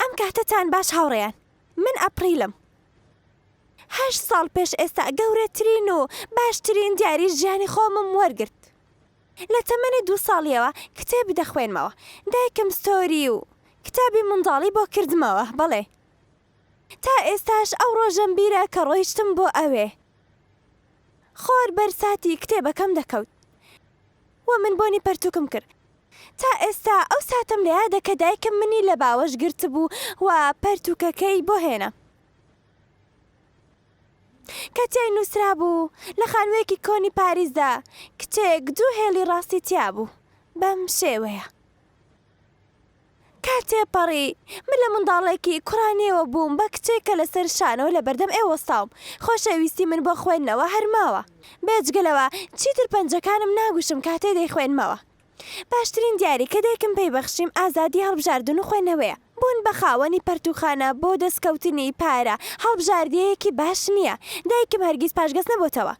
ئەم کاتەتان باش هاوڕێیان من ئەپریلم هەشت ساڵ پێش ئێستا گەورەترین و باشترین دیاری ژیانی خۆمم وەرگرت لە تەمەنی دوو ساڵیەوە کتێب دەخوێنمەوە دایکم ستۆری و کتابی منداڵی بۆ کردمەوە بەڵێ تا ئێستاش ئەو ڕۆژەم بیرە کە ڕۆیشتم بۆ ئەوێ. خۆر بەر ساتی کتێبەکەم دەکەوت و من بۆنی پەرتووکم کرد. تا ئێستا ئەو ساتەم لە یادە کە دایکم منی لە باوەش گرتبوو و پەرتووکەکەی بۆ هێنا، کە تیای نووسرابوو، لە خانوویەکی کۆنی پاریسدا کچێک دوو هێڵی ڕاستی تیابوو. بەم شێوەیە. کە تێپەڕی، من لە منداڵێکی کوڕانیەوە بووم بە کچێک کە لەسەر شانەوە لە بەردەم ئێوە وەستاوم. خۆشەویستی من بۆ خوێندنەوە هەر ماوە. بێجگە لەوە چیتر پەنجەکانم ناگوشم کاتێ دەیخوێنمەوە. باشترین دیاری کە دایکم پێی بەخشیم ئازادی هەڵبژاردن و خوێنەوەیە. بوون بە خاوەنی پەرتووخانە بۆ دەستکەوتنی پارە هەڵبژاردیەیەکی باش نییە. دایکم هەرگیز پاشگەز نەبۆتەوە.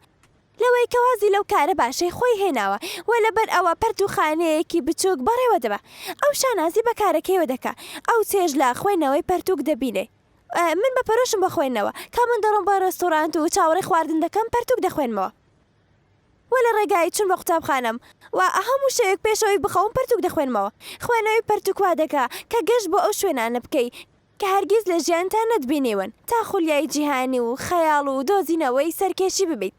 لەوەی کە وازی لەو کارە باشەی خۆی هێناوە و لەبەر ئەوە پەرتووخانەیەکی بچووک بەڕێوە دەبا. ئەو شانازی بە کارەکەیەوە دەکا. ئەو چێژ لە خوێندنەوەی پەرتووک دەبینێ. من بە پەرۆشم بۆ خوێندنەوە. کە من دەڕۆم بۆ ڕێستۆرانت و چاوەڕێی خواردن دەکەم، پەرتووک دەخوێنمەوە و لە ڕێگای چوون بۆ قوتابخانەم و هەموو شەوێک پێش ئەوەی بخەوم پەرتووک دەخوێنمەوە. خوێندنەوەی پەرتووک وا دەکا کە گەشت بۆ ئەو شوێنانە بکەی کە هەرگیز لە ژیانتا نەتبینیون، تا خولیای جیهانی و خەیاڵ و دۆزینەوەی سەرکێشی ببیت.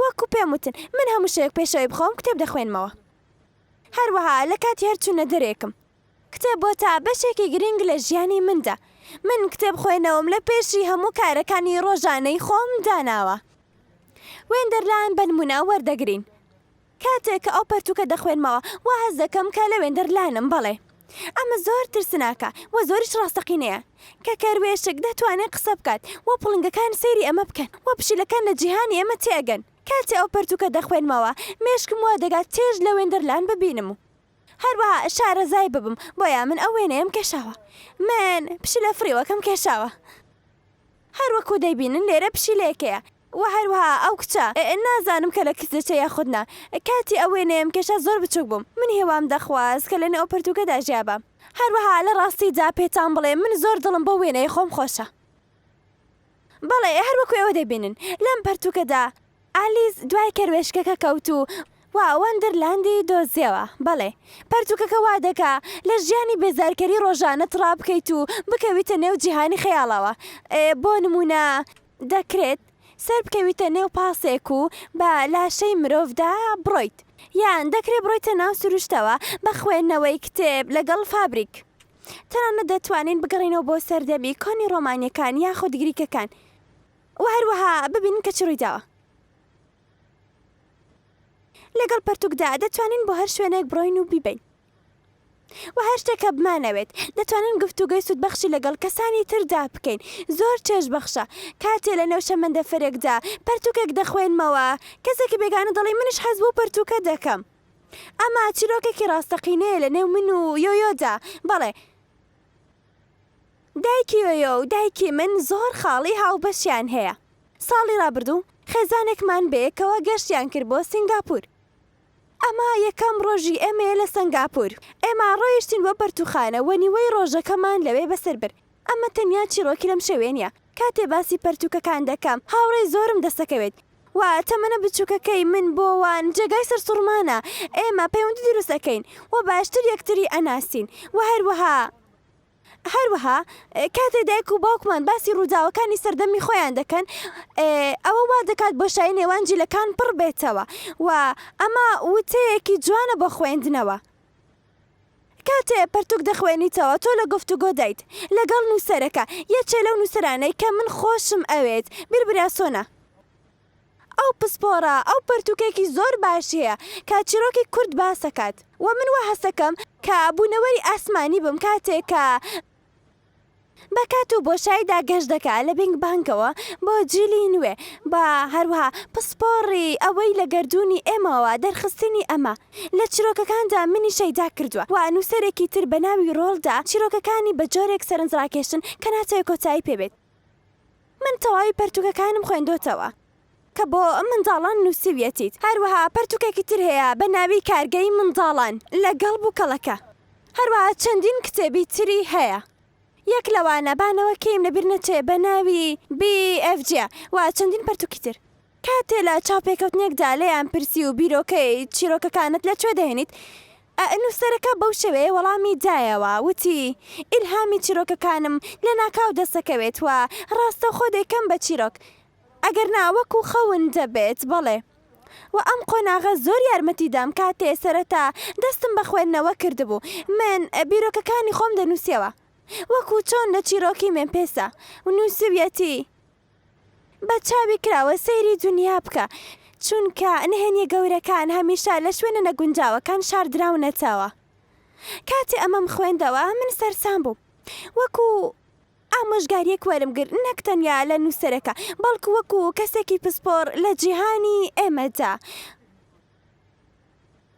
وەکو پێم وتن، من هەموو شەوێک پێش ئەوەی بخەوم کتێب دەخوێنمەوە. هەروەها لە کاتی هەر چوونە دەرێکم. کتێب بۆتە بەشێکی گرینگ لە ژیانی مندا. من کتێب خوێنەوەم لە پێشی هەموو کارەکانی ڕۆژانەی خۆم داناوە. وێندەرلاند بە نموونە وەردەگرین. کاتێک کە ئەو پەرتووکە دەخوێنمەوە وا هەست دەکەم کە لەوێندەر لانم، بەڵێ ئەمە زۆر ترسناکە و زۆریش ڕاستەقینەیە کە کەروێشک دەتوانێت قسە بکات و پڵنگەکان سەیری ئەمە بکەن و پشیلەکان لە جیهانی ئێمە تێئەگەن. کاتێ ئەو پەرتووکە دەخوێنمەوە مێشکم وا دەگات چێژ لە وێندەرلان ببینم و. هەروەها شارەزای ببم، بۆیە من ئەو وێنەیەم کێشاوە. من پشیلە فڕیوەکەم کێشاوە. هەر وەکو دەیبینن لێرە پشیلەیەکەیە. وە هەروەها ئەو کچە، نازانم کە لە کچ دەچێت یاخود نا. کاتی ئەو وێنەیەم کێشا زۆر بچوک بووم. من هیوام دەخواست کە لەنێو ئەو پەرتوکەدا ژیابام. هەروەها لە ڕاستیدا پێتان بڵێم من زۆر دڵم بۆ وێنەی خۆم خۆشە. بەڵێ، هەر وەکو ئێوە دەیبینن لەم پەرتووکەدا ئالیس دوای کەروێشکەکە کەوت و وا وەندەرلاندی دۆزیەوە. بەڵێ، پەرتووکەکە وا دەکا لە ژیانی بێزارکەری ڕۆژانەت ڕابکەیت و بکەویتە نێو جیهانی خەیاڵەوە. بۆ نموونە دەکرێت سەربکەویتە نێو پاسێک و بە لاشەی مرۆڤدا بڕۆیت، یان دەکرێت بڕۆیتە ناو سروشتەوە بە خوێندنەوەی کتێب لەگەڵ فابریک. تەنانەت دەتوانین بگەڕێینەوە بۆ سەردەمی کۆنی ڕۆمانییەکان یاخود گریکەکان و هەروەها ببینین کە چ ڕوویداوە. لەگەڵ پەرتووکدا دەتوانین بۆ هەر شوێنێک بڕۆین و بیبەین و هەر شتێک کە بمانەوێت، دەتوانین گفتوگۆی سوودبەخشی لەگەڵ کەسانی تردا بکەین. زۆر چێژبەخشە کاتێ لەنێو شەمەندەفەرێکدا پەرتووکێک دەخوێنمەوە، کەسێکی بێگانە دەڵێ منیش حەز بەو پەرتووکە دەکەم. ئەمە چیرۆکێکی ڕاستەقینەیە لە نێو من و یۆیۆدا بەڵێ دایکی یۆیۆ و دایکی من زۆر خاڵی هاوبەشیان هەیە ساڵی ڕابردوو خێزانێکمان بەیەکەوە گەشتیان کرد بۆ سنگاپور ئەمە یەکەم ڕۆژی ئێمەیە لە سنگاپور ئێمە ڕۆیشتین بۆ پەرتوخانە وە نیوەی ڕۆژەکەمان لەوێ بەسەر برد ئەمە تەنیا چیرۆکی لەم شەوێنیە کاتێ باسی پەرتوکەکان دەکەم هاوڕێی زۆرم دەسەکەوێت و تەمەنە بچووکەکەی من بۆ وان جێگای سەرسوڕمانە، ئێمە پەیوەندی دروست ئەکەین و باشتر یەکتری ئەناسین و هەروەها هەروەها کاتێ دایک و باوکمان باسی ڕووداوەکانی سەردەمی خۆیان دەکەن ئەوە وا دەکات بۆشایی نێوان جیلەکان پڕ بێتەوە و ئەمە وتەیەکی جوانە بۆ خوێندنەوە. کاتێ پەرتوک دەخوێنیتەوە تۆ لە گفتوگۆدایت لەگەڵ نووسەرەکە، یەکێ لەو نووسەرانەی کە من خۆشم ئەوێت، بیر براسۆنە. ئەو پسپۆڕە، ئەو پەرتوکێکی زۆر باشی هەیە کە چیرۆکی کورد باسەکات و من وا هەستەکەم کە بوونەوەری ئاسمانی بم کاتێ کە. بە کات و بۆشایدا گەشت دەکا لە بینگ بانگەوە بۆ جیلی نوێ و هەروەها پسپۆڕی ئەوەی لە گەردوونی ئێمەوە دەرخستنی ئەمە لە چیرۆکەکاندا منی شەیدا کردووە و نووسەرێکی تر بە ناوی ڕۆڵدا چیرۆکەکانی بە جۆرێک سەرنجڕاکێشن کە ناتەوێ کۆتایی پێ بێت من تەواوی پەرتووکەکانم خوێندۆتەوە. کە بۆ منداڵان نووسیویەتیت، هەروەها پەرتووکێکی تر هەیە بە ناوی کارگەی منداڵان لەگەڵ بووکەڵەکە، هەروەها چەندین کتێبی تری هەیە، یەک لەوانە با نەوەکەیم لەبیر نەچێ بە ناوی BFG و چەندین پەرتووکی تر. کاتێ لە چاوپێکەوتنێکدا لێیان پرسی و بیرۆکەی چیرۆکەکانت لە کوێ دەهێنیت؟ ئە نووسەرەکە بەو شێوەیە وەڵامی دایەوە وتی، ئیلهامی چیرۆکەکانم لەناکاو دەسەکەوێت و ڕاستەوخۆ دەیکەم بە چیرۆک، ئەگەر نا وەکو خەون دەبێت. بەڵێ. وە ئەم قۆناغە زۆر یارمەتی دام کاتێ سەرەتا دەستم بە خوێندنەوە کردبوو من بیرۆکەکانی خۆم دەنوسیەوە وەکو چۆن لە چیرۆکی مێمپێسا نوسیویەتی بە چاوی کراوە سەیری دونیا بکە چونکە نهێنیە گەورەکان هەمیشە لە شوێنە نەگونجاوەکان شاردراونەتەوە کاتێ ئەمەم خوێندەوە من سەرسام بووم وەکو ئامۆژگارییەک وەرم گرت نەک تەنیا لە نووسەرەکە، بەڵکو وەکو کەسێکی پسپۆڕ لە جیهانی ئێمەدا،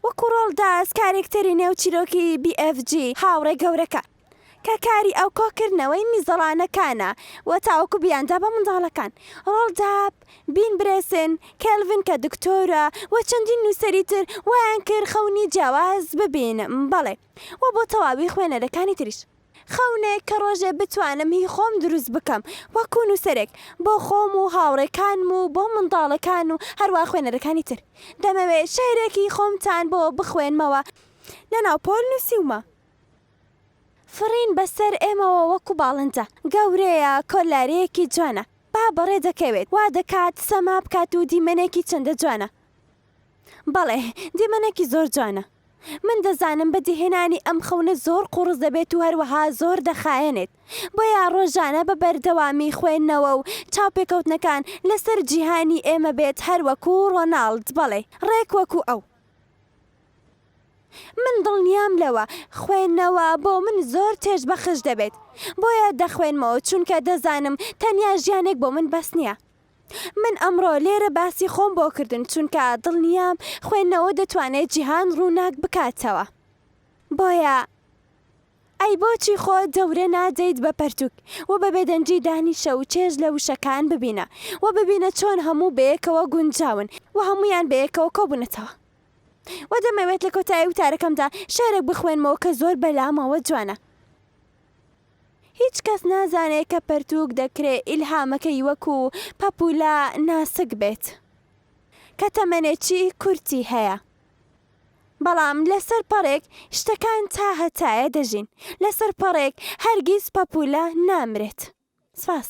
وەکو ڕۆڵداس، کارێکتەری نێو چیرۆکی BFG، هاوڕێ گەورەکە، کە کاری ئەو کۆکردنەوەی میزەڵانەکانە و تاوەکو بیاندا بە منداڵەکان، ڕۆڵداب، بین برێسن، کێلڤن کە دکتۆرە، و چەندین نووسەری تر، وایان کرد خەونی جیاواز ببینم، بەڵێ، و بۆ تەواوی خوێنەرەکانی تریش. خەونێک کە ڕۆژێ بتوانم هی خۆم دروست بکەم وەکو نووسەرێک بۆ خۆم و هاوڕێکانم و بۆ منداڵەکان و هەروا خوێنەرەکانی تر دەمەوێ شیعرێکی خۆمتان بۆ بخوێنمەوە لە ناو پۆل نووسیومە فڕین بەسەر ئێمەوە وەکو باڵندە گەورەیە کۆلارەیەکی جوانە با بەڕێ دەکەوێت وا دەکات سەما بکات و دیمەنێکی چەندە جوانە. بەڵێ، دیمەنێکی زۆر جوانە. من دەزانم بەدیهێنانی ئەم خەونە زۆر قوڕس دەبێت و هەروەها زۆر دەخایەنێت، بۆیە ڕۆژانە بە بەردەوامی خوێندنەوە و چاوپێکەوتنەکان لەسەر جیهانی ئێمە بێت هەر وەکو ڕۆناڵد، بەڵێ، ڕێک وەکو ئەو. من دڵنیام لەوە، خوێندنەوە بۆ من زۆر چێژبەخش دەبێت، بۆیە دەخوێنمەوە، چونکە دەزانم تەنیا ژیانێک بۆ من بەس نییە. من ئەمڕۆ لێرە باسی خۆم بۆ کردن چونکە دڵنیام خوێندنەوە دەتوانێت جیهان ڕووناک بکاتەوە بۆیە ئەی بۆچی خۆ دەورە نادەیت بە پەرتوک و بە بێدەنگی دانیشە و چێژ لە وشەکان ببینە و ببینە چۆن هەموو بەیەکەوە گونجاون و هەمویان بەیەکەوە کۆبوونەتەوە و دەمەوێت لە کۆتایی وتارەکەمدا شعرێک بخوێنمەوە کە زۆر بەلامەوە جوانە. هیچ کەس نازانێ کە پەرتووک دەکرێ ئیلهامەکەی وەکو پەپوولە ناسک بێت کە تەمەنێکی کورتی هەیە. بەڵام لەسەر پەڕێک شتەکان تا هەتایە دەژین، لەسەر پەڕێک هەرگیز پەپوولە نامرێت. سپاس.